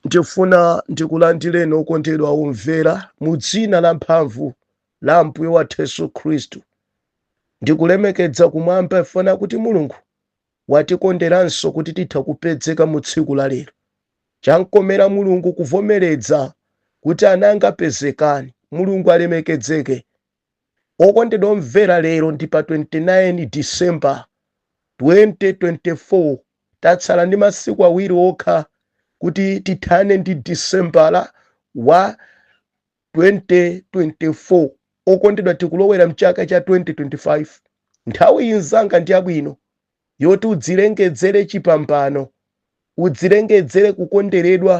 ndifuna ndikulandireni okondedwa omvera mu dzina la mphamvu la ambuye wathu yesu khristu ndikulemekeza kumwamba chifukwa chakuti mulungu watikonderanso kuti titha kupedzeka mu tsiku la lero chankomera mulungu kuvomereza kuti ana anga pezekani mulungu alemekedzeke Okondedwa omvera lero ndi pa 29 December 2024 tatsala ndi masiku awiri okha kuti tithane ndi Disembala wa 2024 okondedwa tikulowera mchaka cha 2025 nthawi iyi mzanga ndi yabwino yoti udzilengedzere chipambano udzilengedzere kukonderedwa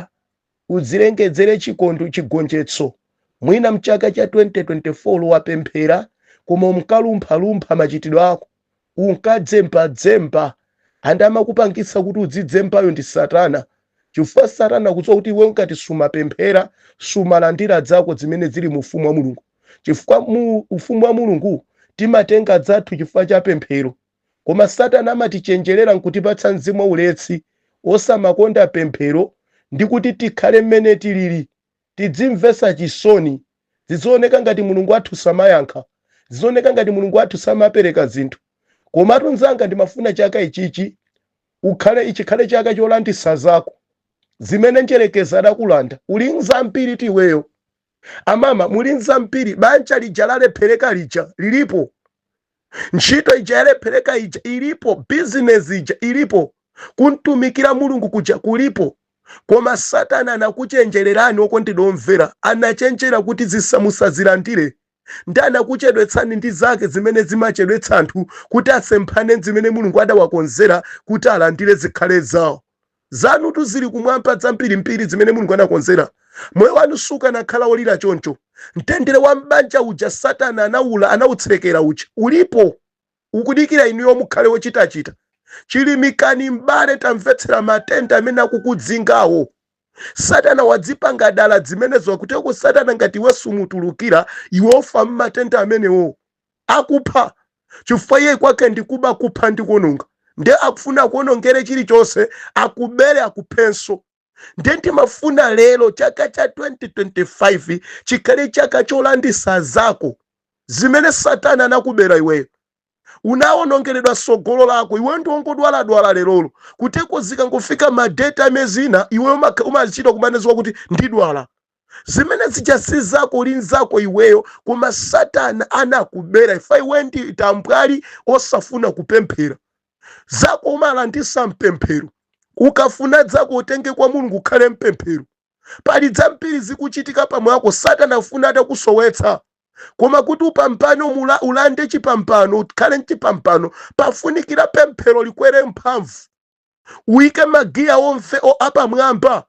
udzilengedzere chikondw chigonjetso mwina mchaka cha 2024 wapemphera koma umkalumphalumpha machitidwe ako unkadzembadzemba and amakupangisa kuti udzidzembayo ndi satana chifukwa satana akudziwa kuti iwe ngati sumapemphera sumalandira zako zimene dzili mu ufumu wa mulungu chifukwa mu ufumu wa mulungu timatenga zathu chifukwa cha pemphero Koma Satana amatichenjerera nkutipatsa mzimu wauletsi, osamakonda pemphero, ndi kuti tikhale mmene tilili, tidzimvetsa chisoni, zidzioneka ngati Mulungu wathu samayankha, zidzioneka ngati Mulungu wathu samapereka zinthu. Komatu nzanga ndimafuna chaka ichichi ukhale chikhale chaka cholandisa zako, zimene njerekezi adakulanda. Uli nzambiritu iweyo. Amama, muli nzambiri. Banja lija lalephereka lija lilipo. Ntchito ija yalephereka ija ilipo. Bizinezi ija ilipo. Kumtumikira Mulungu kuja kulipo. Koma Satana anakuchenjererani, okondedwa omvera, anachenjera kuti zisa musazilandire. Nde anakuchedwetsani ndi zake zimene zimachedwetsa anthu kuti asemphane nzimene Mulungu adawakonzera kuti alandire zikhale zawo. Zanutu zili kumwamba zambirimbiri zimene Mulungu anakonzera. Moyo wanu sukanakhala wolira choncho. Mtendere wa m'banja uja Satana anaula anautsekera uja ulipo ukudikira inuyo mukhale ochitachita. Chilimikani m'bale tamvetsera matenda amene akukudzingawo. Satana wadzipanga dala zimenezo akuti aku Satana ngati iwe sumutulukira iwe ufa mu matenda amenewo. akupha chifukwa iye kwake ndi kuba kupha ndi kuononga nde akufuna akuonongere chilichonse akubere akuphenso nde ndimafuna lero chaka cha 2025 chikhale chaka cholandisa zako zimene satana anakubera iweyo unaonongeredwa sogolo lako iweyo ndiwe ongodwaladwala lerolo kuti kuzikangofika madeti amenewa iwe umachita kumanadziwa kuti ndidwala zimene zija si zako uli nzako iweyo koma satana anakubera ifa iwe ndi tambwali osafuna kupemphera zako umalandisa mpemphero ukafuna zako utenge kwa mulungu ukhale mpemphero pali zambiri zikuchitika pa moyo wako satana afuna atakusowetsa koma kuti upambane umula- ulande chipambano ukhale mchipambano pafunikira pemphero likwere mphamvu uike magiya onse apamwamba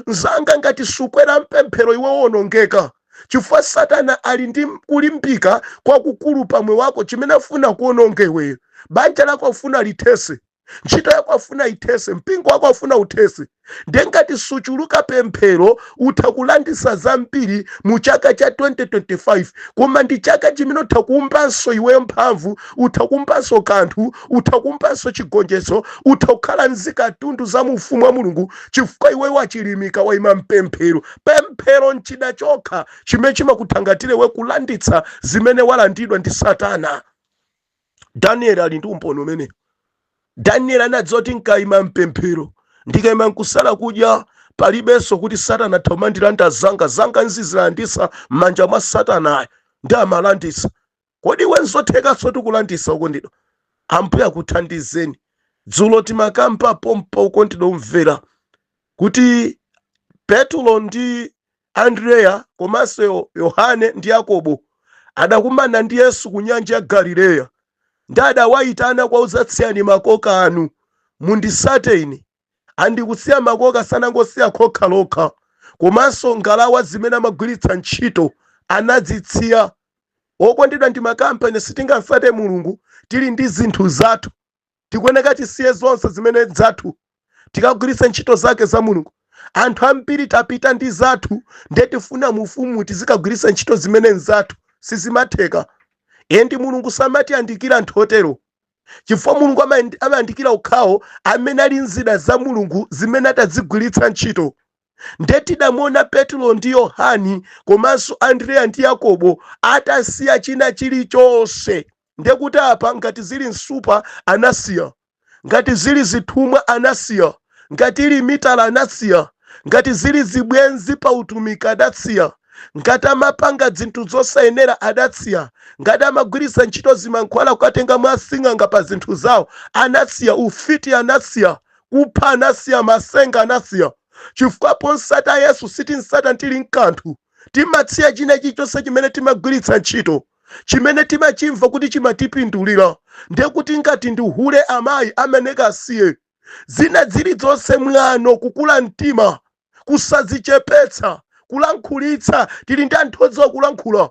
mzanga ngati sukwera mpemphero iwe uonongeka chifukwa satana ali ndi kulimbika kwakukulu pa moyo wako chimene afuna kuononga iweyo banja lako afuna lithese ntchito yako afuna ithese mpingo wako afuna uthese ndiye ngati suchuluka pemphero utha kulandisa zambiri mu chaka cha 2025 koma ndi chaka chimene utha kuumbanso iweyo mphamvu utha kuumbanso kanthu utha kuumbanso chigonjetso utha kukhala nzika tundu za mu ufumu wa mulungu chifukwa iwe wachilimika waima mpemphero pemphero nchida chokha chimene chimakuthangatira iwe kulanditsa zimene walandidwa ndi satana danieli ali ndi umboni umene danieli anadziwa kuti nkaima mpemphero ndikaima nkusala kudya palibenso kuti satana atha kumandilanda zanga zanga nzizilandisa m'manja mwa satanayo ndi amalandisa Kodi iwe nzothekansotu kulandisa okondedwa. Ambuye akuthandizeni. Dzulo timakamba pompa okondedwa omvera kuti Petulo ndi Andreya komanso Yo- Yohane ndi Yakobo adakumana ndi Yesu ku nyanja ya Galileya ndi adawayitana kuwauza tsiyani makoka anu mundisate ine. and kusiya makoka sanangosiya khoka lokha komanso ngalawa zimene amagwiritsa ntchito anazitsiya okondedwa ndi makampani sitingamsate mulungu tili ndi zinthu zathu tikuyeneka tisiye zonse zimene zathu tikagwiritsa ntchito zake za mulungu anthu ambiri tapita ndi zathu nde tifuna mu ufumu tizikagwiritsa ntchito zimene nzathu sizimatheka and mulungu samatiyandikira anthu otero chifukwa mulungu amayand- amayandikira okhawo amene ali nzida za mulungu zimene atazigwiritsa ntchito nde tidamuona petulo ndi yohani komanso andreya ndi yakobo atasiya china chilichonse nde kuti apa ngati zili nsupa anasiya ngati zili zithumwa anasiya ngati ili mitala anasiya, ngati zili zibwenzi pa utumiki adasiya, ngati amapanga dzinthu dzosayenera adasiya, ngati amagwiritsa ntchito zimankhwala kukatenga mwa asing'anga pa zinthu zawo anasiya, ufiti anasiya, kupha anasiya, masenga anasiya. Chifukwa pomsata Yesu sitimsata tili nkanthu. Timatsiya china chilichonse chimene timagwiritsa ntchito chimene timachimva kuti chimatipindulira. Ndekuti ngati ndi uhule amayi amayeneka asiye. zina zilizonse mwano kukula mtima kusazichepetsa kulankhulitsa tili ndi anthu odziwa kulankhula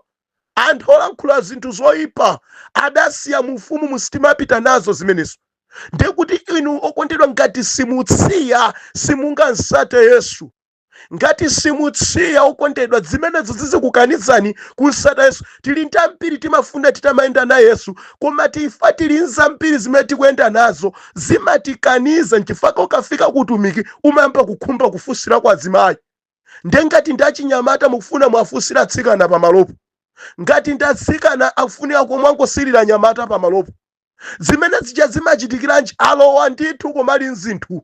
anthu olankhula zinthu zoyipa adasiya mu ufumu musitimapita nazo zimenezo ndikuti inu okondedwa ngati simutsiya simungamsate yesu ngati simutsiya okondedwa zimenezo zizikukanizani kumsata yesu tili ndi ambiri timafuna titamayenda na yesu koma chifukwa tili nzambiri zimene tikuyenda nazo zimatikaniza nchifukwa ukafika kutumiki umayamba kukhumba kufunsira kwa azimayi nde ngati ndi achinyamata mukufuna mwafunsira atsikana pamalopo ngati ndi atsikana akufunika kumangosirira anyamata pamalopo zimene zija zimachitikiranji alowa ndithu koma ali nzinthu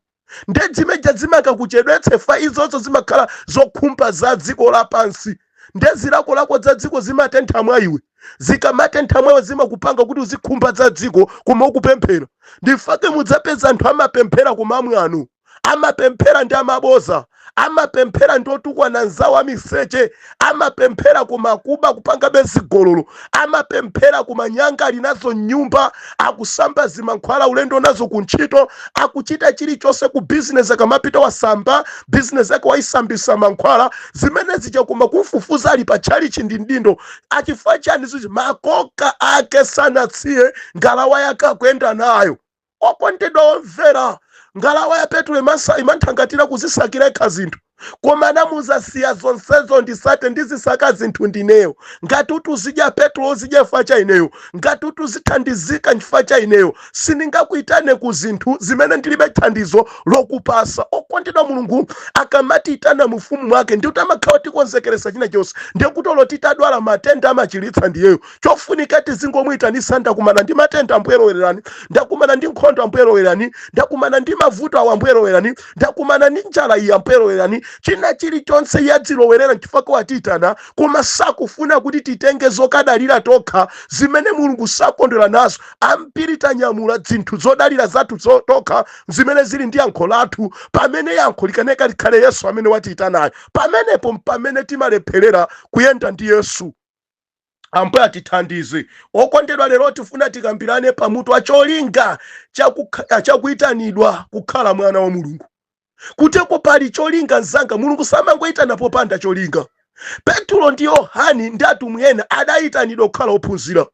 nde zimene zimakakuchedwetsa fa izozo zimakhala zokhumba za dziko lapansi nde zilakolako za dziko zimatentha mwa iwe zikamatentha mwa iwe zimakupanga kuti uzikhumba za dziko koma ukupemphera nchifake mudzapeza anthu amapemphera koma amwano amapemphera ndi amaboza amapemphera ndi otukwana nzawo amiseche amapemphera kumakuba kupangabe zigololo amapemphera kumanyanga ali nazo mnyumba akusamba zimankhwala ulendo nazo ku ntchito akuchita chilichonse ku bizinesi akamapita wasamba bizinesi yake waisambitsa mankhwala zimene zija koma kumfufuza ali pa tchalichi ndi mdindo a chifukwa chani izi makoka ake sanatsiye ngalawa yake akuyenda nayo Okondedwa omvera, ngalawa ya Petulo imamthangatira kuzisakira yekha zinthu. Koma anamuuza siya zonsezo ndisate ndizisaka zinthu ndineyo. Ngati uti uzidya petulo uzidya chifukwa cha ineyo. Ngati uti uzithandizika nchifukwa cha ineyo. Sindingakuitane ku zinthu zimene ndilibe thandizo lokupasa. Okondedwa Mulungu akamatiitana mu ufumu mwake ndikuti amakhala otikonzekeretsa china chilichonse. Ndikuti olo titadwala matenda amachiritsa ndiyeyo. chofunika tizingomuyitanisa ndakumana ndi matenda ambuye lowererani ndakumana ndi nkhondo ambuye lowererani ndakumana ndi mavuto awa ambuye lowererani ndakumana ndi njala iyi ambuye lowererani china chilichonse iye adzilowerera chifukwa watiyitana koma sakufuna kuti titenge zokadalira tokha zimene mulungu sakondwera nazo ambiri tanyamula zinthu zodalira zathu tokha zimene zili ndi yankho lathu pamene yankho likaneka likhale yesu amene watiyitanayo pamenepo mpamene timalepherera kuyenda ndi yesu ambuye atithandize okondedwa lero tifuna tikambirane pamutu wa cholinga chakuyitanidwa kukhala mwana wa mulungu kuteroko pali cholinga mzanga mulungu samangoyitana popanda cholinga petulo ndi yohani ndi atumwi ena adayitanidwa kukhala ophunzira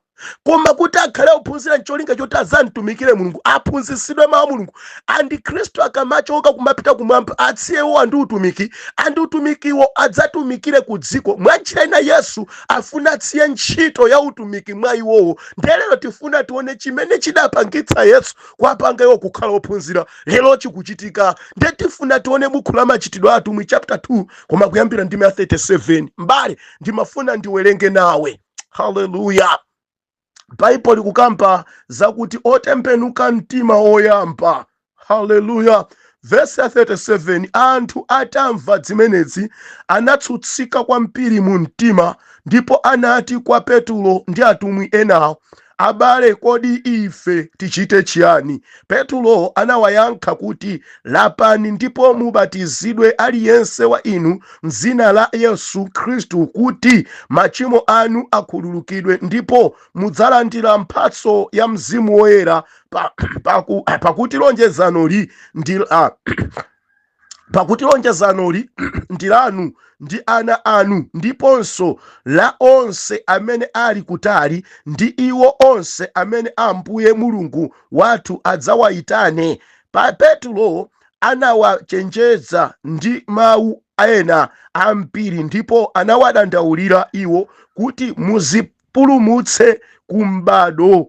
koma kuti akhale ophunzira ncholinga choti adzamtumikire mulungu aphunzitsidwe mawu a mulungu and khristu akamachoka kumapita kumwamba atsiye iwo ndi utumiki and utumikiwo adzatumikire ku dziko mwa njira ina yesu afuna atsiye ntchito ya utumiki mwa iwowo ndiye lero tifuna tione chimene chidapangitsa yesu kuwapanga iwo kukhala ophunzira lero chikuchitika ndiye tifuna tione bukhu la machitidwe a atumwi chapter 2 koma kuyambira ndime ya 37 mbale ndimafuna ndiwerenge nawe haleluya baibulo likukamba zakuti otembenuka mtima oyamba haleluya vesi ya 37 anthu atamva zimenezi anatsutsika kwambiri mu mtima ndipo anati kwa petulo ndi atumwi enawo Abale, kodi ife tichite chiyani? Petulo anawayankha kuti, Lapani ndipo mubatizidwe aliyense wa inu m'dzina la Yesu Khristu kuti machimo anu akhululukidwe ndipo mudzalandira mphatso ya mzimu woyera, pakuti lonjezanoli ndi la pakuti lonjezanoli ndi lanu ndi ana anu ndiponso la onse amene ali kutali ndi iwo onse amene Ambuye Mulungu wathu adzawayitane. Pa Petulo anawachenjeza ndi mawu ena ambiri ndipo anawadandaulira iwo kuti muzipulumutse ku m'bado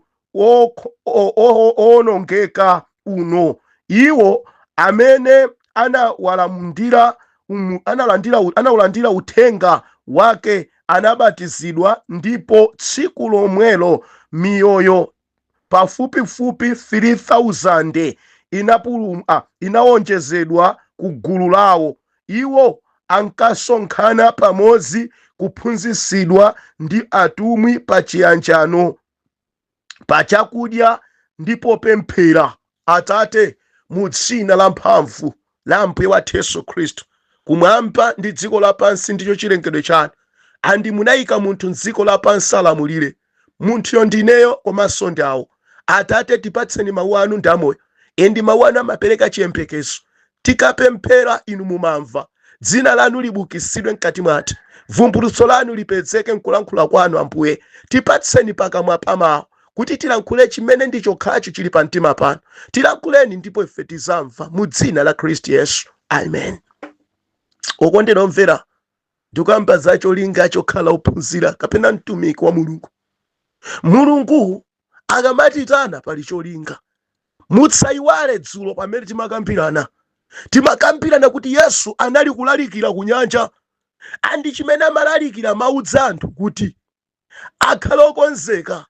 owonongeka uno iwo amene anaulandira um, analandira anaulandira uthenga wake anabatizidwa ndipo tsiku lomwelo miyoyo pafupifupi 3000 inapulum ah, inawonjezedwa ku gulu lawo iwo ankasonkhana pamodzi kuphunzitsidwa ndi atumwi pa chiyanjano pa chakudya ndi popemphera. Atate, mu dzina la mphamvu la Ambuye wathu Yesu Khristu, kumwamba ndi dziko lapansi ndicho chilengedwe chanu, and munayika munthu m'dziko lapansi alamulire. Munthuyo ndineyo komanso ndi awo. Atate, tipatseni mawu anu ndi amoyo, and mawu anu amapereka chiyembekezo. Tikapemphera, Inu mumamva. Dzina lanu libukitsidwe mkati mwathu. Vumbulutso lanu lipezeke m'kulankhula kwanu, Ambuye. Tipatseni pakamwa pa mau, kuti tilankhule chimene ndi chokhacho chili pa mtima panu. Tilankhuleni ndipo ife tidzamva, mu dzina la Khristu Yesu. Amen. Okondedwa omvera, ndikukamba za cholinga chokhala ophunzira kapena mtumiki wa Mulungu. Mulungu akamatitana pali cholinga mutsaiwale dzulo pamene timakambirana timakambirana kuti yesu anali kulalikira ku nyanja andi chimene amalalikira amaudza anthu kuti akhale okonzeka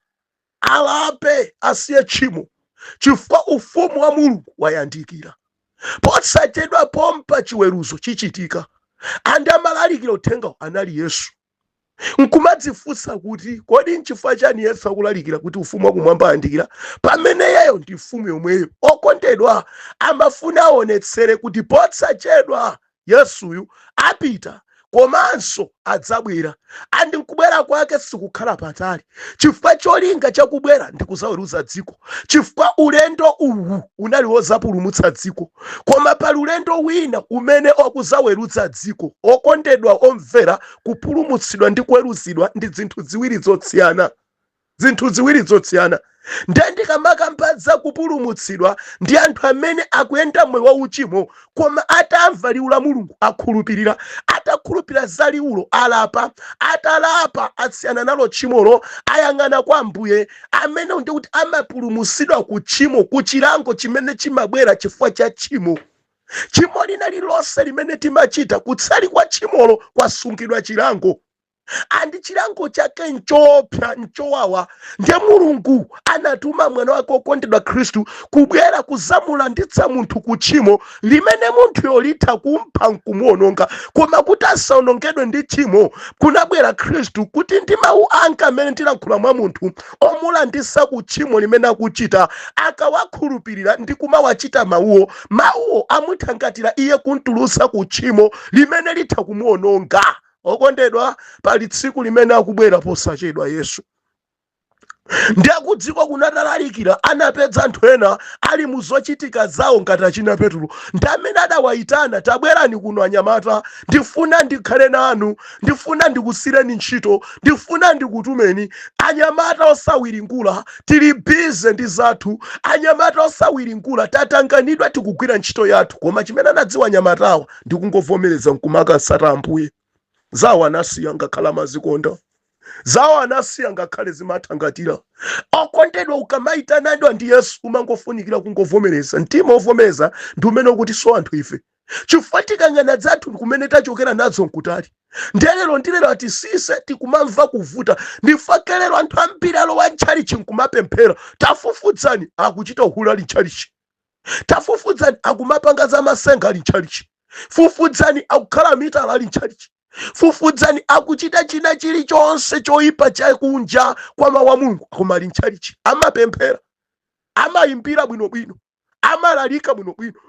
alape asiye tchimo chifukwa ufumu wa mulungu wayandikira posachedwa pompa chiweruzo chichitika andi amalalikira uthengawo anali yesu nkumadzifunsa kuti kodi nchifukwa chani yesu akulalikira kuti ufumu wakumwamba wayandikira pamene iyeyo ndi mfumu yomweyo okondedwa amafuna aonetsere kuti potsachedwa yesuyu apita komanso adzabwera andi nkubwera kwake sikukhala patali chifukwa cholinga chakubwera ndi kuzaweruza dziko chifukwa ulendo uwu unali wozapulumutsa dziko koma pali ulendo wina umene akuzaweruza dziko okondedwa omvera kupulumutsidwa ndi kuweruzidwa ndi zinthu ziwiri zotsiyana zinthu ziwiri zotsiyana ndiye ndikamakamba za kupulumutsidwa ndi anthu amene akuyenda moyo wa uchimo koma atamva liwu la mulungu akhulupirira atakhulupirira za liwulo alapa atalapa atsiyana nalo tchimolo ayang'ana kwa ambuye ameneyu ndi kuti amapulumutsidwa ku tchimo ku chilango chimene chimabwera chifukwa cha tchimo tchimo lina lilonse limene timachita kutseri kwa tchimolo kwasungidwa chilango andi chilango chake nchopsa nchowawa ndiye mulungu anatuma mwana wake okondedwa khristu kubwera kuzamulanditsa munthu ku tchimo limene munthuyo litha kumpha nkumuononga koma kuti asaonongedwe ndi tchimo kunabwera khristu kuti ndi mawu anga amene ndilankhula mwa munthu omulanditsa ku tchimo limene akuchita akawakhulupirira ndi kumawachita mawuwo mawuwo amuthangatira iye kumtulutsa ku tchimo limene litha kumuononga okondedwa pali tsiku limene akubwera posachedwa yesu ndiye kudziko kuno atalalikira anapedza anthu ena ali mu zochitika zawo ngati achina petulo ndi amene adawayitana tabwerani kuno anyamata ndifuna ndikhale nanu ndifuna ndikusiyireni ntchito ndifuna ndikutumeni anyamata osawiringula tili bize ndi zathu anyamata osawiringula tatanganidwa tikugwira ntchito yathu koma chimene anadziwa anyamatawa ndikungovomereza nkumakamtsata ambuye zawo anasiya ngakhale amazikonda zawo anasiya ngakhale zimawathangatira okondedwa ukamayitanidwa ndi yesu umangofunikira kungovomereza mtima ovomereza ndi umene ukutisowa anthu ife chifukwa tikayang'ana zathu kumene tachokera nazo nkutali ndiye lero ndi lero ati sise tikumamva kuvuta ndi chifukwa chake lero anthu ambiri alowa ntchalichi nkumapemphera tafufudzani akuchita uhule ali ntchalichi tafufudzani akumapanga za matsenga ali mtchalichi fufudzani akukhala mitala ali mtchalichi fufudzani akuchita china chilichonse choyipa chakunja kwa mawu a mulungu koma ali mtchalichi amapemphera amayimbira bwinobwino amalalika bwinobwino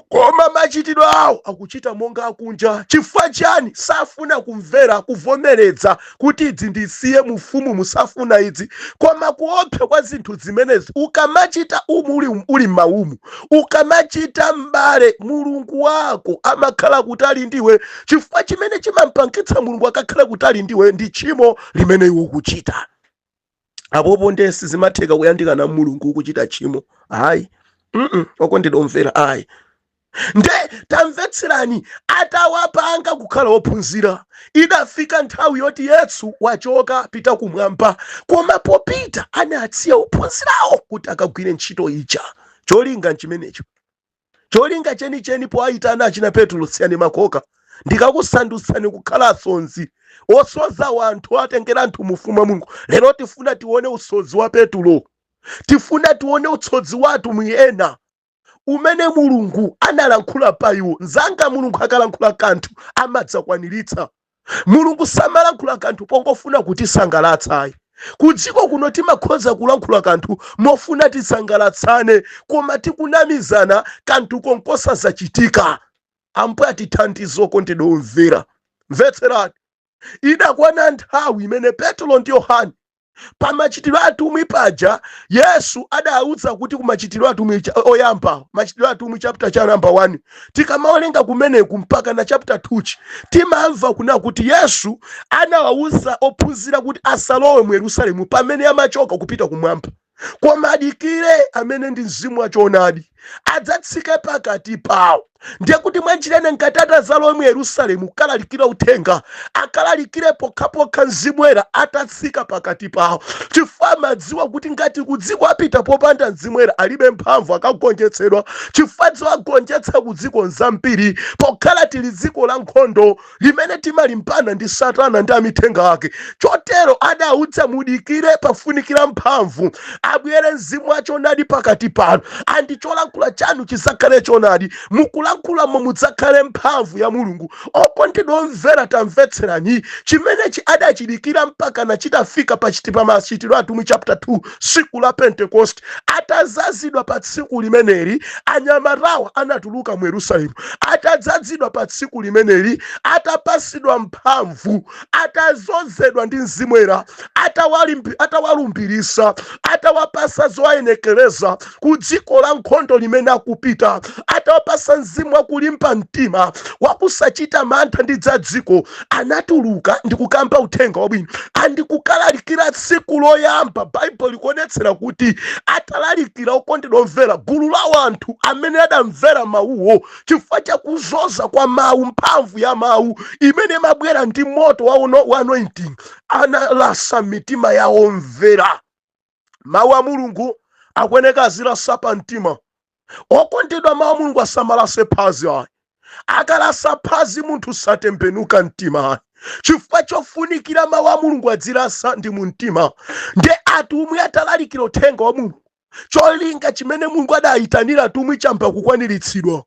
koma machitidwe awo akuchita monga akunja chifukwa chani safuna kumvera kuvomereza kuti idzi ndisiye mufumu musafuna idzi koma kuopsa kwa zinthu zimenezi ukamachita umu uli, uli mmaumu ukamachita m'bale mulungu wako amakhala kutali ndiwe chifukwa chimene chimampangitsa mulungu akakhala kutali ndiwe ndi tchimo limene iwe ukuchita apopo nde sizimatheka kuyandikana mulungu ukuchita tchimo hayi mm -mm, okondedwa omvera ayi nde tamvetserani atawapanga kukhala ophunzira idafika nthawi yoti yesu wachoka pita kumwamba koma popita anawasiya ophunzirawo kuti akagwire ntchito ija cholinga nchimenecho cholinga chenicheni poayitana achina petulo siyani makoka ndikakusandutsani kukhala asodzi osoza wanthu atengera anthu mufumu wa mulungu lero tifuna tione usodzi wa petulo tifuna tione usodzi wa atumwi ena umene mulungu analankhula pa iwo nzanga mulungu akalankhula kanthu amadzakwaniritsa Mulungu samalankhula kanthu pongofuna kutisangalatsa ayi. Kudziko kuno timakhoza kulankhula kanthu mofuna tisangalatsane koma tikunamizana kanthuko nkosazachitika. Ambuye atithandize okondedwa omvera. Mvetserani. Idakwana nthawi imene Petro ndi Yohane pa machitidwe atumwi paja yesu adawauza kuti ku machitidwe atumwi cha- oyamba machitidwe atumwi chapter cha namba 1 tikamawerenga kumeneku mpaka na chapter 2 chi timamva kuna kuti yesu anawawuza ophunzira kuti asalowe mu yerusalemu pamene amachoka kupita kumwamba koma adikire amene ndi mzimu wa choonadi adzatsike pakati pawo ndiye kuti mwanjira ina ngati atazalowe mu yerusalemu kukalalikira uthenga akalalikire pokhapokha mzimu woyera atatsika pakati pawo chifukwa amadziwa kuti ngati kudziko apita popanda mzimu woyera alibe mphamvu akagonjetsedwa chifukwa zowagonjetsa kudziko nzambiri pokhala tili dziko la nkhondo limene timalimbana ndi satana ndi amithenga ake chotero adawauza mudikire pafunikira mphamvu abwere mzimu wachonadi pakati panu andi cholankhula chanu chizakhale chonadi mukulankhulamo mudzakhale mphamvu ya mulungu okondedwa omvera tamvetserani chimenechi adachidikira mpaka nachitafika pachiti pa machitidwe atumwi chapter 2 tsiku la pentekoste atazazidwa pa tsiku limeneli anyamatawa anatuluka mu yerusalemu atadzadzidwa pa tsiku limeneli atapasidwa mphamvu atazozedwa ndi mzimwera atawalumbirisa atawapasa zowayenekereza ku dziko la nkhondo limene akupita atawapasa mzimu wakulimba mtima wakusachita mantha ndi za dziko anatuluka ndi kukamba uthenga wabwino andi kukalalikira tsiku loyamba baibulo likuonetsera kuti atalalikira okondedwa omvera gulu la wanthu amene adamvera mawuwo chifukwa cha kuzoza kwa mawu mphamvu ya mawu imene imabwera ndi moto wa anointing analasa mitima ya omvera mawu a mulungu akuyeneka azilasa pa mtima okondedwa mawu a mulungu asamalase phazi ayi akalasa phazi munthu satembenuka mtima ayi chifukwa chofunikira mawu a mulungu azilasa ndi mu mtima nde atumwi atalalikira uthenga wa mulungu cholinga chimene mulungu adayitanira atumwi chayamba kukwaniritsidwa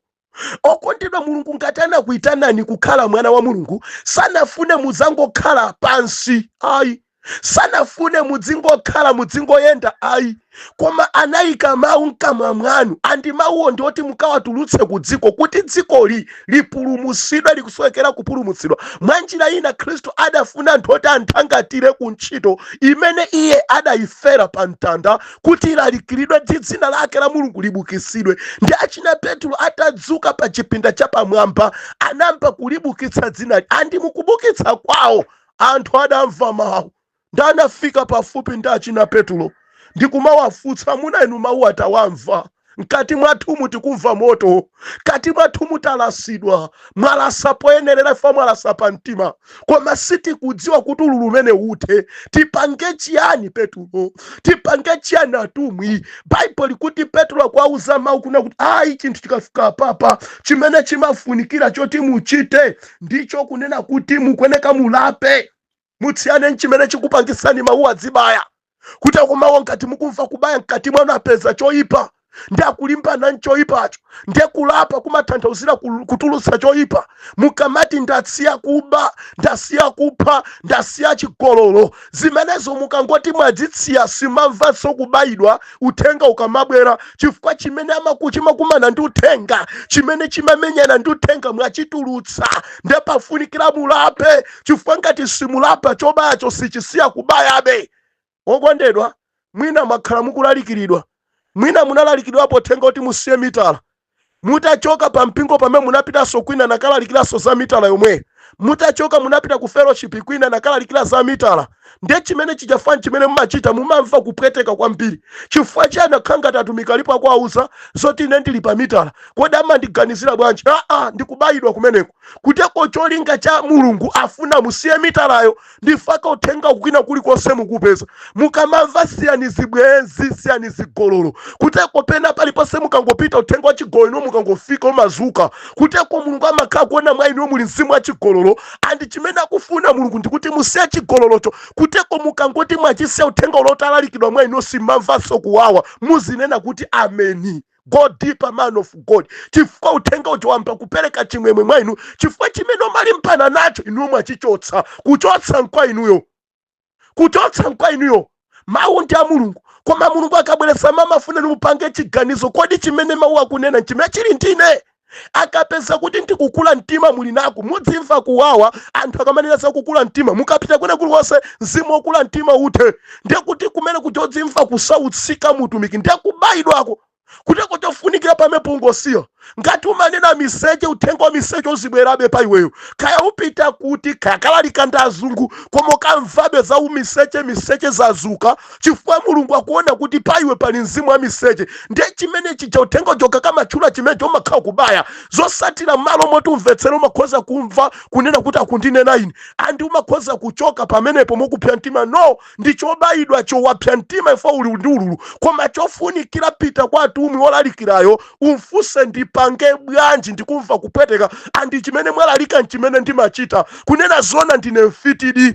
okondedwa mulungu ngati anakuitanani kukhala mwana wa mulungu sanafune mudzangokhala pansi ayi sanafune mudzingokhala mudzingoyenda ayi koma anayika mawu mkamwa mwanu andi mawuwo ndi oti mukawatulutse ku dziko kuti dzikoli lipulumutsidwe likusowekera kupulumutsidwa mwa njira ina khristu adafuna anthu oti anthangatire ku ntchito imene iye adayifera pa mtanda kuti ilalikiridwe ndi dzina lake la mulungu libukitsidwe ndi achina petulo atadzuka pa chipinda chapamwamba anayamba kulibukitsa dzinali andi mukubukitsa kwawo anthu adamva mawu ndi anafika pafupi ndi achina petulo ndikumawafunsa amuna inu mawuwa tawamva mkati mwathumu tikumva moto mkati mwathumu talasidwa mwalasa poyenerera ife mwalasa pa mtima koma sitikudziwa kuti ululu umenewu uthe tipange chiyani petulo tipange chiyani atumwi baibulo likuti petulo akuwauza mawu kunena kuti ayi chinthu chikafika apapa chimene chimafunikira choti muchite ndicho kunena kuti mukuyeneka mulape musiyane nchimene chikupangisani mawuwa azibaya kuti akumawo ngati mukumva kubaya mkati mwanu apeza choyipa ndi akulimbana nchoyipacho ndiye kulapa kumatanthauzira kul- kutulutsa choyipa mukamati ndasiya kuba ndasiya kupha ndasiya chigololo zimenezo mukangoti mwazisiya simumamvanso kubayidwa uthenga ukamabwera chifukwa chimene amaku chimakumana ndi uthenga chimene chimamenyana ndi uthenga mwachitulutsa ndiye pafunikira mulape chifukwa ngati simulapa chobayacho sichisiya kubayabe. Okondedwa, mwina mwakhala mukulalikiridwa. Mwina munalalikiridwapo uthenga woti musiye mitala. Mutachoka pampingo pamene munapitanso kwina nakalalikiranso za mitala yomweyo. Mutachoka munapita ku fellowship kwina nakalalikira za mitala. Ndiye chimene chija fan chimene mumachita mumamva kupweteka kwambiri. Chifukwa chiyani akukhala ngati atumiki alipo akuwauza zoti ine ndili pa mitala? Kodi amandiganizira bwanji? Aa, ndi kubayidwa kumeneko. kuteko cholinga cha mulungu afuna musiye mitalayo ndifaka uthenga kwina kulikonse mukupeza mukamamva siyani zibwenzi siyani zigololo kuteko pena paliponse mukangopita uthenga wa chigololo ino mukangofika umazuka kuteko mulungu amakhala kuona mwa inuyo muli mzimu wa chigololo andi chimene akufuna mulungu ndikuti musiye chigololocho kuteko mukangoti mwachisiya uthenga ulotalalikidwa mwa inuyo simamvanso kuwawa muzinena kuti ameni go deeper man of god chifukwa uthenga uja wayamba kupereka chimwemwe mwa inu chifukwa chimene umalimbana nacho inuyo mwachichotsa kuchotsa nkwa inuyo kuchotsa nkwa inuyo mawu ndi a mulungu koma mulungu akabweretsa mawu amafuna inu mupange chiganizo kodi chimene mawu akunena nchimene chili ndine akapeza kuti ndikukula mtima muli nako mudzimva kuwawa anthu akamanena za kukula mtima mukapita kwina kulikonse mzimu wokula mtima uthe ndiye kuti kumene kuja udzimva kusautsika mutumiki ndiye kubayidwako kuteko chofunikira pamenepo ungosiya ngati umanena miseche uthenga wa miseche uzibwerabe pa iweyo kaya upita kuti kaya kalalika ndi azungu koma ukamvabe za miseche miseche zazuka chifukwa mulungu akuona kuti pa iwe pali mzimu wa miseche ndiye chimene chija uthenga uja ukakamatchula chimenecho umakhala kubaya zotsatira m'malo moti umvetsere umakhoza kumva kunena kuti akundinena ine andi umakhoza kuchoka pamenepo mokupya mtima no ndichobayidwa cho wapya mtima ife uli ndi ululu koma chofunikira pita kwa atumwi wolalikirayo umfunse ndipange bwanji ndikumva kupweteka andi chimene mwalalika nchimene ndimachita kunena zona ndine mfitidi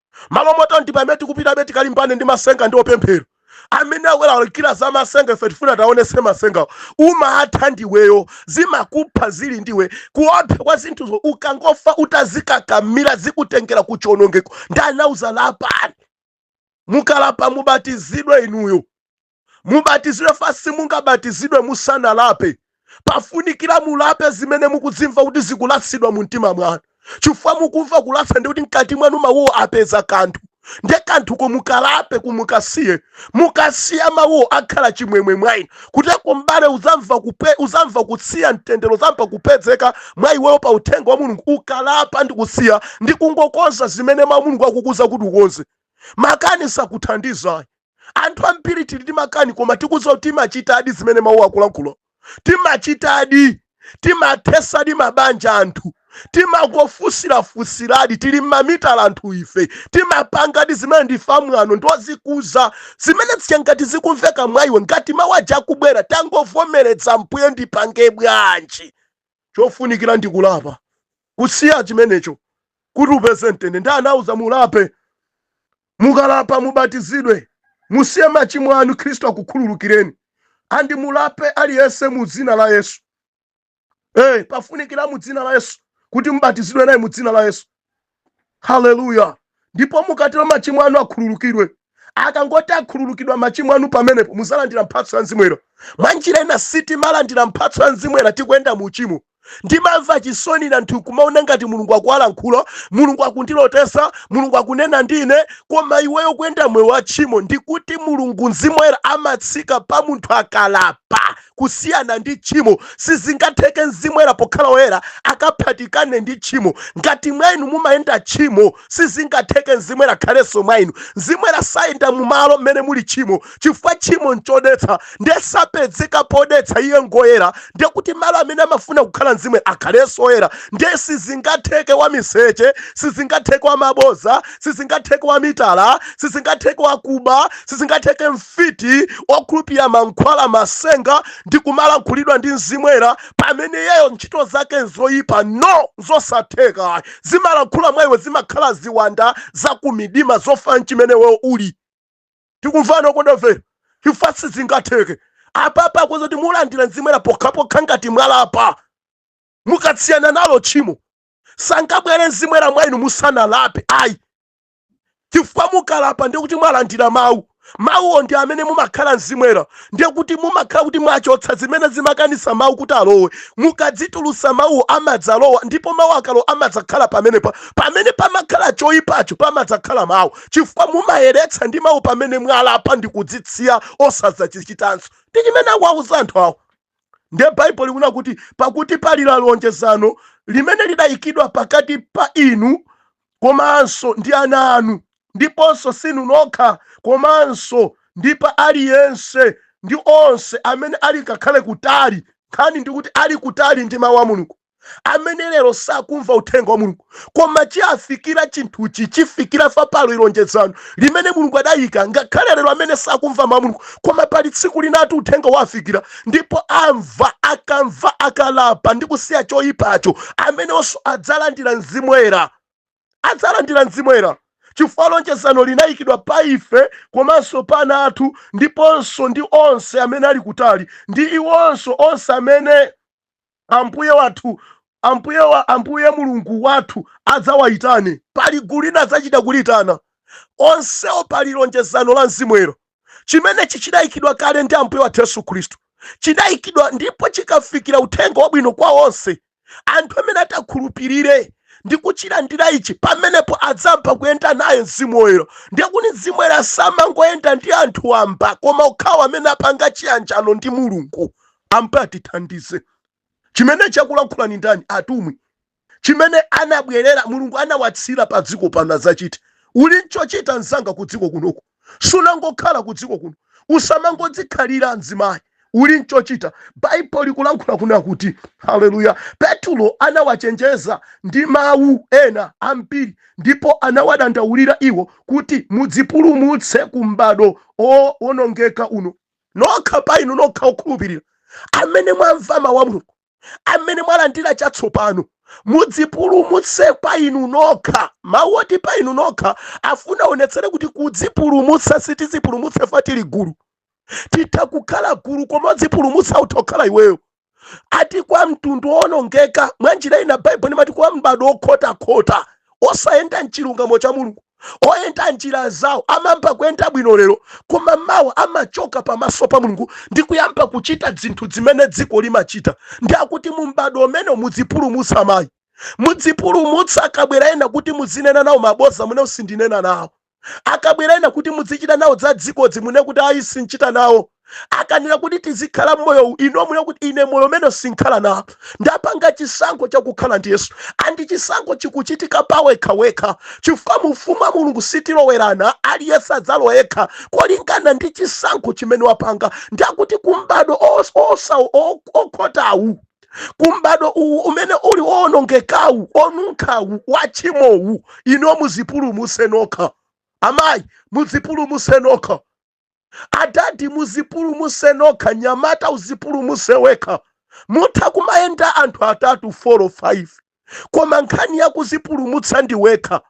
m'malo mwake ndi pamene tikupitabe tikalimbane ndi masenga ndi opemphera amene akulalikira za matsenga ife tifuna taonetse matsenga umatha ndiweyo zimakupha zili ndiwe kuopsa kwa zinthuzo ukangofa utazikakamira zikutengera ku chionongeko nde anauza lapani mukalapa mubatizidwe inuyo mubatizidwe fa simungabatizidwe musanalape pafunikira mulape zimene mukudzimva kuti zikulasidwa mu mtima mwanu chifukwa mukumva kulasa ndi kuti mkati mwanu mawuwo apeza kanthu nde kanthuko mukalape komukasiye mukasiya mawuwo akhala chimwemwe mwa inu kuteko mbale uzamva kupe uzamva kutsiya mtendere uzamva kupezeka mwa iweyo pa uthenga wa mulungu ukalapa ndi kusiya ndi kungokonza zimene mawu mulungu akukuuza kuti ukonze makani sakuthandizayi anthu ambiri tili ndi makani koma tikudziwa kuti timachitadi zimene mawu akulankhula timachitadi timathetsadi mabanja anthu timangofunsirafunsiradi tili mmamitala anthu ife timapangadi zimene ndife amwano ndozikuza zimene zija ngati zikumveka mwa iwe ngati mawu aja akubwera tangovomereza mbuye ndipange bwanji Chofunikira ndi kulapa, kusiya chimenecho kuti upeze mtendere. Ndiye anawauza mulape, mukalapa mubatizidwe, musiye machimo anu, Khristu akukhululukireni, and mulape aliyense mu dzina la Yesu. Eh, pafunikira mu dzina la Yesu kuti mubatizidwe naye mu dzina la Yesu. haleluya ndipo mukatero machimo anu akhululukidwe akangoti akhululukidwa machimo anu pamenepo muzalandira mphatso ya mzimu woyera mwa njira ina sitimalandira mphatso ya mzimu woyera tikuyenda mu uchimo ndimamva chisoni ndi anthu kumaona ngati mulungu akuwalankhula mulungu akundilotesa mulungu akunena ndine koma iweyo kuyenda moyo wa tchimo ndikuti mulungu mzimu woyera amatsika pa munthu akalapa kusiyana ndi tchimo sizingatheke mzimu woyera pokhala woyera akaphatikane ndi tchimo ngati mwa inu mumayenda tchimo sizingatheke mzimu woyera akhalenso mwa inu mzimu woyera sayenda mu malo mmene muli tchimo chifukwa tchimo nchodetsa ndiye sapezeka podetsa iye ngoyera ndiye kuti malo amene amafuna kukhala mzimu woyera akhalenso oyera ndiye sizingatheke wa miseche sizingatheke wa maboza sizingatheke wa mitala sizingatheke wa kuba sizingatheke mf- mfiti, okhulupirira mankhwala, masenga, ndi kumalankhulidwa ndi mzimu woyera, pamene iyeyo ntchito zake nzoipa? No! Nzosatheka ayi. Zimalankhula mwa iwe, zimakhala ziwanda zakumidima zofanana ndi chimene iweyo uli. Tikumvana okondedwa omvera? Chifukwa sizingatheke. Apapa akuwuza kuti mulandira mzimu woyera pokhapokha ngati mwalapa. Mukatsiyana nalo tchimo, sangabwere mzimu woyera mwa inu musanalape ayi. chifukwa mukalapa ndiye kuti mwalandira mawu mawuwo ndi amene mumakhala mzimu woyera ndiye kuti mumakhala kuti mwachotsa zimene zimakanisa mawu kuti alowe mukadzitulutsa mawuwo amadzalowa ndipo mawu akalowa amadzakhala pamenepa pamene pamakhala choyipacho pamadzakhala mawu chifukwa mumayeretsa ndi mawu pamene mwalapa ndi kuzisiya osazachichitanso ndi chimene akuwauza anthu awo ndiye baibulo likunena kuti pakuti pali lonjezano limene lidayikidwa pakati pa inu komanso ndi ana anu, ndiponso sinu nokha, komanso ndi pa aliyense ndi onse amene ali ngakhale kutali. Nkhani ndikuti ali kutali ndi mawu a Mulungu, amene lero sakumva uthenga wa Mulungu, koma chiwafikira chinthuchi chiwafikira chifukwa pali lonjezano limene Mulungu adayika ngakhale lero, amene sakumva mawu a Mulungu, koma pali tsiku linatu uthenga uwafikira. ndipo amva akamva akalapa ndi kusiya choyipacho amenewonso adzalandira mzimu woyera adzalandira mzimu woyera chifukwa lonjezano linayikidwa pa ife komanso pa ana athu ndiponso ndi onse amene ali kutali ndi iwonso onse amene Ambuye wathu, Ambuye wa, Ambuye Mulungu wathu adzawayitane. Pali gulu lina adzachita kulitana. Onsewo pali lonjezano la Mzimu Woyera. Chimenechi chidayikidwa kale ndi Ambuye wathu Yesu Khristu. Chidayikidwa ndipo chikafikira uthenga wabwino kwa onse. Anthu amene atakhulupirire ndi kuchilandira ichi pamenepo adzamba kuyenda naye Mzimu Woyera. Ndiye kuti Mzimu Woyera samangoyenda ndi anthu wamba koma okhawo amene apanga chiyanjano ndi Mulungu. Ambuye atithandize. Chimene chakulankhulani ndani atumwi chimene anabwerera mulungu anawatsitsira pa dziko pano adzachite uli nchochita mzanga ku dziko kunoku sunangokhala ku dziko kuno usamangodzikhalira mzimayi uli nchochita baibulo likulankhula kunena kuti haleluya petulo anawachenjeza ndi mawu ena ambiri ndipo anawadandaulira iwo kuti mudzipulumutse ku m'bado owonongeka uno nokha pa inu nokha okhulupirira amene mwamva mawu a mulungu amene mwalandira chatsopano mudzipulumutse pa inu nokha mawu oti pa inu nokha afuna aonetsere kuti kudzipulumutsa sitizipulumutsefe tili gulu titha kukhala gulu koma odzipulumutsa utha kukhala iweyo ati kwa mtundu woonongeka mwa njira ina baibulo limati kwa m'bado okhotakhota osayenda mchilungamo cha mulungu oyenda njira zawo amayamba kuyenda bwino lero koma mawa amachoka pamaso pa mulungu ndi kuyamba kuchita zinthu zimene dziko limachita ndi akuti mu m'bado umene mudzipulumutsa mayi mudzipulumutsa akabwera ena kuti muzinena nawo maboza munene sindinena nawo Akabwera ena kuti mudzichita nawo za dzikodzi, munene kuti ayi sinchita nawo. Akanena kuti tizikhala mmoyo uwu, inuwo munene kuti ine moyo umene sinkhala nawo. Ndapanga chisankho chakukhala ndi Yesu. Andi chisankho chikuchitika pawekha wekha. Chifukwa mu ufumu wa Mulungu sitilowerana, aliyense adzalowa yekha kolingana ndi chisankho chimene wapanga. Ndiye kuti ku m'bado okhotawu. kumbado uwu umene uli woonongekawu onunkhawu wachimowu inu muzipulumuse nokha amayi muzipulumuse nokha adadi muzipulumuse nokha mnyamata uzipulumuse wekha mutha kumayenda anthu atatu 4 5 koma nkhani yakuzipulumutsa ndi wekha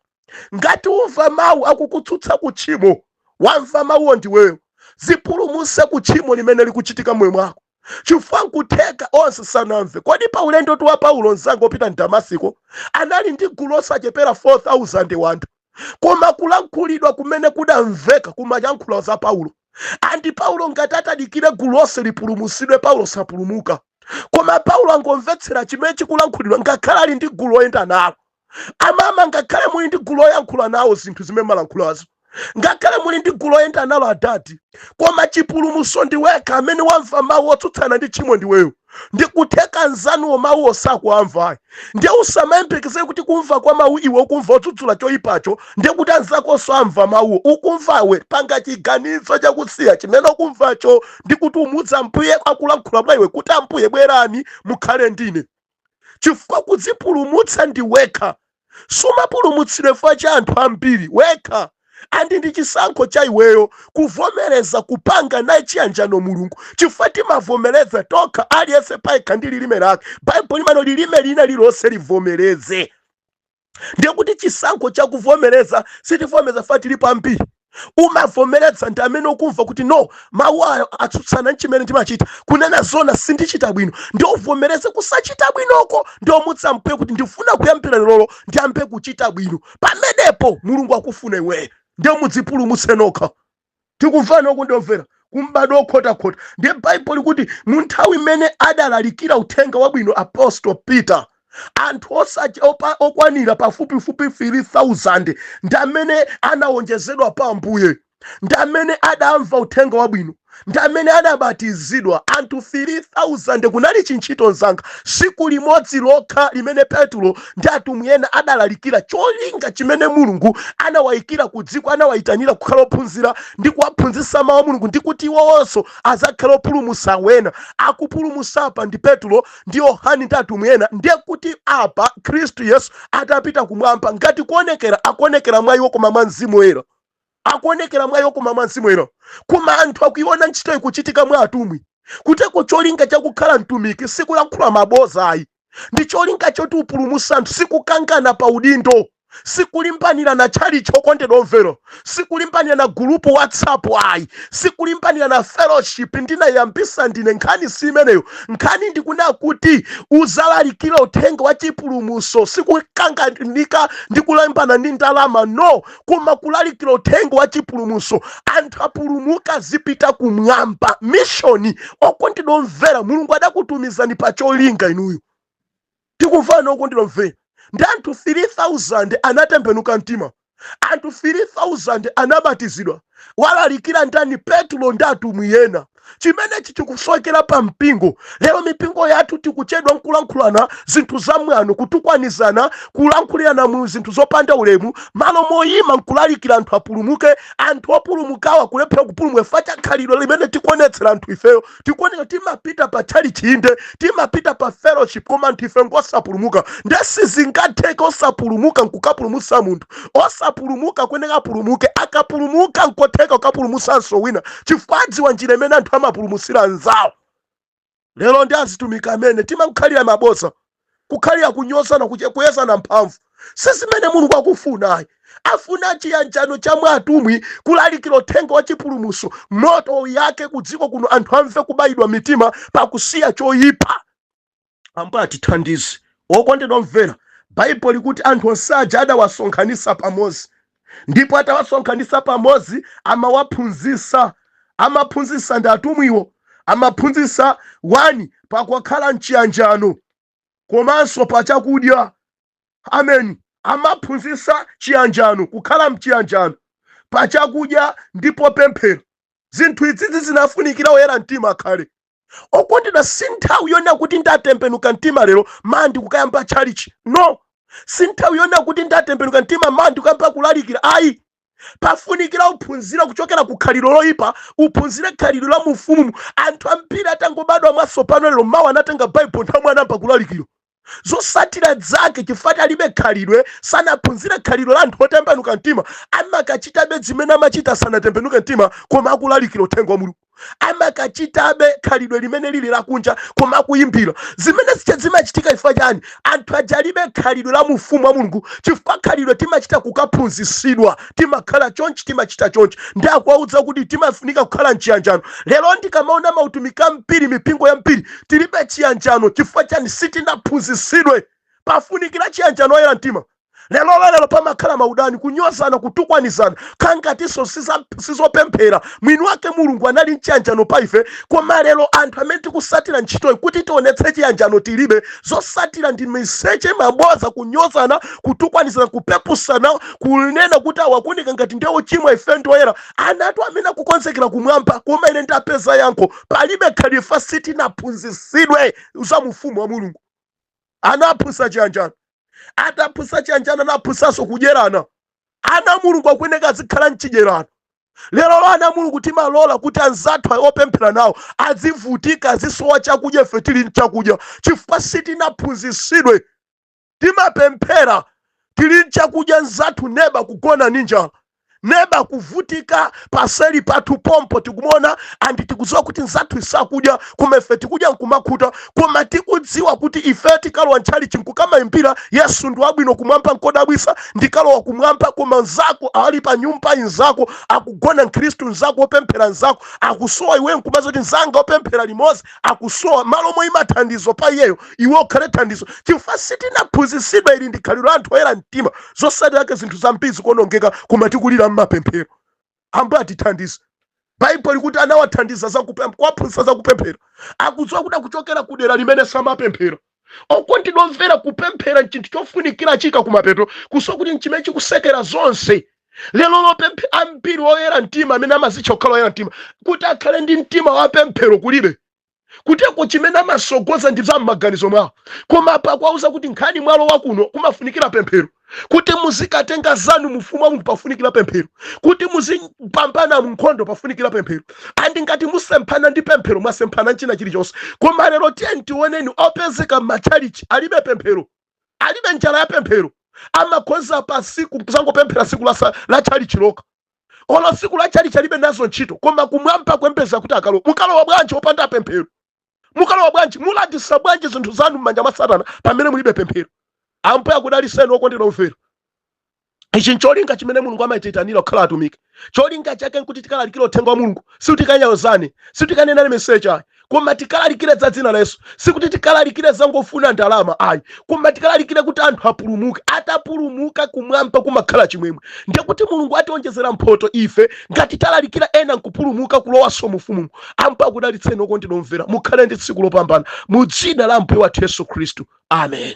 ngati umva mawu akukutsutsa ku tchimo wamva mawuwo ndiweyo zipulumutse ku tchimo limene likuchitika mmoyo mwako chifukwa nkutheka onse sanamve kodi pa ulendotu wa paulo mzanga opita mdamasiko anali ndi gulu osachepera 4000 wanthu koma kulankhulidwa kumene kudamveka kumayankhula za paulo andi paulo ngati atadikire gulu lonse lipulumutsidwe paulo sapulumuka koma paulo angomvetsera chimene chikulankhulidwa ngakhale ali ndi gulu loyenda nalo amama ngakhale muli ndi gulu loyankhula nawo zinthu zimene malankhulazo ngakhale muli ndi gulu loyenda nalo adadi koma chipulumutso ndi wekha amene wamva mawu otsutsana ndi tchimo ndiweyo ndikutheka mnzanuwo mawuwo sakuamvayi ndiye usamayembekeze kuti kumva kwa mawu iwe ukumva odzudzula choyipacho ndiye kuti anzakonso amva mawuwo ukumvawe panga chiganizo chakusiya chimene ukumvacho ndikuti umuuze ambuye akulankhula mwa iwe kuti ambuye bwerani mukhale ndine chifukwa kudzipulumutsa ndi wekha sumapulumutsidwa chifukwa cha anthu ambiri wekha andi ndi chisankho cha iweyo kuvomereza kupanga naye chiyanjano mulungu chifukwa timavomereza tokha aliyense payekha ndi lilime lake baibulo limanena lilime lina lilonse livomereze ndiye kuti chisankho chakuvomereza sitivomereza fa tilipo ambiri umavomereza ndiwe amene ukumva kuti no mawuwa atsutsana nchimene ndimachita kunena zona sindichita bwino ndi uvomereze kusachita bwinoko ndi umuuze ambuye kuti ndifuna kuyambira lero ndiyambe kuchita bwino pamenepo mulungu akufuna iweyo ndiye mudzipulumutse nokha tikumvana okondedwa omvera ku mbadwo wokhotakhota ndiye baibulo likuti mu nthawi imene adalalikira uthenga wabwino apostol peter anthu osa- okwanira pafupifupi 3000 ndi amene anawonjezedwa pa ambuye ndi amene adamva uthenga wabwino ndi amene adabatizidwa anthu 3000 kunali chintchito mzanga siku limodzi lokha limene petulo ndi atumwi ena adalalikira cholinga chimene mulungu anawayikira ku dziko anawayitanira kukhala ophunzira ndi kuwaphunzitsa mawu a mulungu ndi kuti iwowonso azakhale opulumutsa wena akupulumutsa apa ndi petulo ndi Yohane ndi atumwi ena, ndiye kuti apa Khristu Yesu atapita kumwamba ngati kuonekera, akuonekera mwa iwo koma mwa mzimu woyera, akuonekera mwa iwo koma mwa mzimu woyera. Koma anthu akuiona ntchito ikuchitika mwa atumwi, kuteko cholinga chakukhala mtumiki sikulankhula maboza ayi, ndi cholinga choti upulumutse anthu sikukangana pa udindo. sikulimbanira na tchalitchi okondedwa omvera sikulimbanira ma gulupu whatsapp ayi sikulimbanira na fellowship ndinayambisa ndine nkhani si imeneyo nkhani ndikunena kuti uzalalikire uthenga wa chipulumuso sikukanganika ndi kulimbana ndi ndalama no koma kulalikira uthenga wa chipulumuso anthu apulumuke azipita kumwamba mishoni okondedwa omvera mulungu adakutumizani pa cholinga inuyo Tikumvana okondedwa omvera, ndi anthu 3,000 anatembenuka mtima, anthu 3,000 anabatizidwa. Walalikira ndani? Petulo ndi atumwi ena. Chimenechi chikusowekera pa mpingo lero. Mipingo yathu tikuchedwa nkulankhulana zinthu za mwano, kutukwanizana, kulankhulirana mu zinthu zopanda ulemu, malo moyima nkulalikira anthu apulumuke. Anthu opulumukawa kulephera kupulumuka chifukwa cha khalidwe limene tikuonetsera anthu ifeyo. tikuoneka timapita pa tchalichi inde timapita pa fellowship koma anthu ife ngosapulumuka nde sizingatheke osapulumuka nkukapulumutsa munthu osapulumuka kuyeneka apulumuke akapulumuka nkotheka kukapulumutsanso wina chifukwa adziwa njira imene anthu amapulumutsira anzawo lero ndi azitumiki amene timakhalira mabodza kukhalira kunyozana kuche- kuyesana mphamvu si zimene mulungu akufuna ayi afuna chiyanjano cha mwa atumwi kulalikira uthenga wa chipulumutso moto uyake kudziko kuno anthu amve kubayidwa mitima pakusiya choyipa ambuye atithandize okondedwa omvera baibulo likuti anthu onse aja adawasonkhanitsa pamodzi ndipo atawasonkhanitsa pamodzi amawaphunzitsa. Amaphunzitsa ndi atumwiwo, amaphunzitsa 1 pakukhala m'chiyanjano komanso pa chakudya. Ameni. Amaphunzitsa chiyanjano, kukhala m'chiyanjano, pa chakudya ndi popemphero. Zinthu izizi zinafunikira oyera mtima akhale. okondedwa si nthawi yonena kuti ndatembenuka mtima lero mawa ndikukayamba tchalichi no si nthawi yonena kuti ndatembenuka mtima mawa ndikukayamba kulalikira ayi pafunikira uphunzire kuchokera ku khalidwe loyipa uphunzire khalidwe la mu ufumu anthu ambiri atangobadwa mwatsopano lero mawa anatenga baibulo nthawi yomwe anayamba kulalikira zotsatira zake chifukwa alibe khalidwe sanaphunzire khalidwe la anthu otembenuka mtima amakachitabe zimene amachita sanatembenuke mtima koma akulalikira uthenga wa mulungu amakachitabe khalidwe limene lili lakunja koma akuyimbira zimene zicha zimachitika chifukwa chani anthu aja alibe khalidwe la mu ufumu wa mulungu chifukwa khalidwe timachita kukaphunzitsidwa timakhala chonchi timachita chonchi ndiye akuwauza kuti timafunika kukhala mchiyanjano lero ndikamaona mautumiki ambiri mipingo yambiri tilibe chiyanjano chifukwa chani sitinaphunzitsidwe pafunikira chiyanjano oyera mtima lero lero pamakhala maudani kunyozana kutukwanizana kukhala ngatinso si opemphera mwini wake mulungu anali mchiyanjano pa ife koma lero anthu amene tikutsatira ntchitoyi kuti tionetse chiyanjano tilibe zotsatira ndi miseche mabodza kunyozana kutukwanizana kupeputsana kunena kuti awa akuoneka ngati ndi ochimwa ife ndi oyera anatu amene akukonzekera kumwamba koma ine ndapeza yankho palibe khalidwe sitinaphunzitsidwe za mu ufumu wa mulungu anaphunzitsa chiyanjano ataphunzitsa chiyanjano anaphunzitsanso kudyerana ana a mulungu akuyeneka azikhala mchidyerano lerolo ana a mulungu timalola kuti anzathu opemphera nawo azivutika azisowa chakudya ife tili nchakudya chifukwa sitinaphunzitsidwe timapemphera tili nchakudya nzathu neba kugona ni njala neba kuvutika paseli pathu pompo tikumaona andi tikudziwa kuti nzathuyi sakudya koma ife tikudya nkumakhuta koma tikudziwa kuti ife tikalowa ntchalichi nkukamayimbira yesu ndi wabwino kumwamba nkodabwisa ndikalowa kumwamba koma nzako ali pa nyumbayi nzako akugona mkhristu nzako opemphera nzako akusowa iwe nkumadziwa kuti nzanga opemphera limodzi akusowa malo moyima nthandizo pa iyeyo iwe ukhale thandizo chifukwa sitinaphunzitsidwa ili ndi khalidwe la anthu oyera mtima zosatira zake zinthu zambiri zikuonongeka koma tikulira mmapemphero ambuye atithandize baibulo likuti anawathandiza za kupemphera kuwaphunzitsa za kupemphera akudziwa kuti akuchokera ku dera limene samapemphera okondedwa omvera kupemphera nchinthu chofunikira chika kumapeto kusoka kuti nchimene chikusegula zonse lero lomwe ambiri oyera mtima amene amazitcha kukhala oyera mtima kuti akhale ndi mtima wa pemphero kulibe kuteko chimene amasogoza ndi za m'maganizo mwawo koma apa akuwauza kuti nkhani mwambo wakuno kumafunikira pemphero kuti muzikatenga zanu mufumu wa mulungu pafunikira pemphero kuti muzipambana mnkhondo pafunikira pemphero andi ngati musemphana ndi pemphero mwasemphana nchina chilichonse koma lero tiyeni taoneni opezeka m'matchalichi alibe pemphero alibe njala ya pemphero amakhoza pa siku kuzangopemphera siku la chalichi loka olo siku la chalichi alibe nazo ntchito koma kumwamba kuyembekeza kuti akalowa mukalowa bwanji opanda pemphero mukalowa bwanji mulandisa bwanji zinthu zanu m'manja mwa satana pamene mulibe pemphero ambuye akudaliseni okondedwa omvera ichi ncholinga chimene mulungu amatiitanira kukhala atumiki cholinga chake nkuti tikalalikire uthenga wa mulungu sikuti tikanyozane sikuti tikanenane meseji ayi koma tikalalikire za dzina la yesu sikuti tikalalikire zangofuna ndalama ayi koma tikalalikire kuti anthu apulumuke atapulumuka kumwamba kumakhala chimwemwe ndikuti mulungu ationjezera mphoto ife ngati talalikira ena nkupulumuka kulowanso mu ufumumu ambuye akudalitseni okondedwa omvera mukhale ndi tsiku lopambana mu dzina la ambuye wathu yesu khristu amen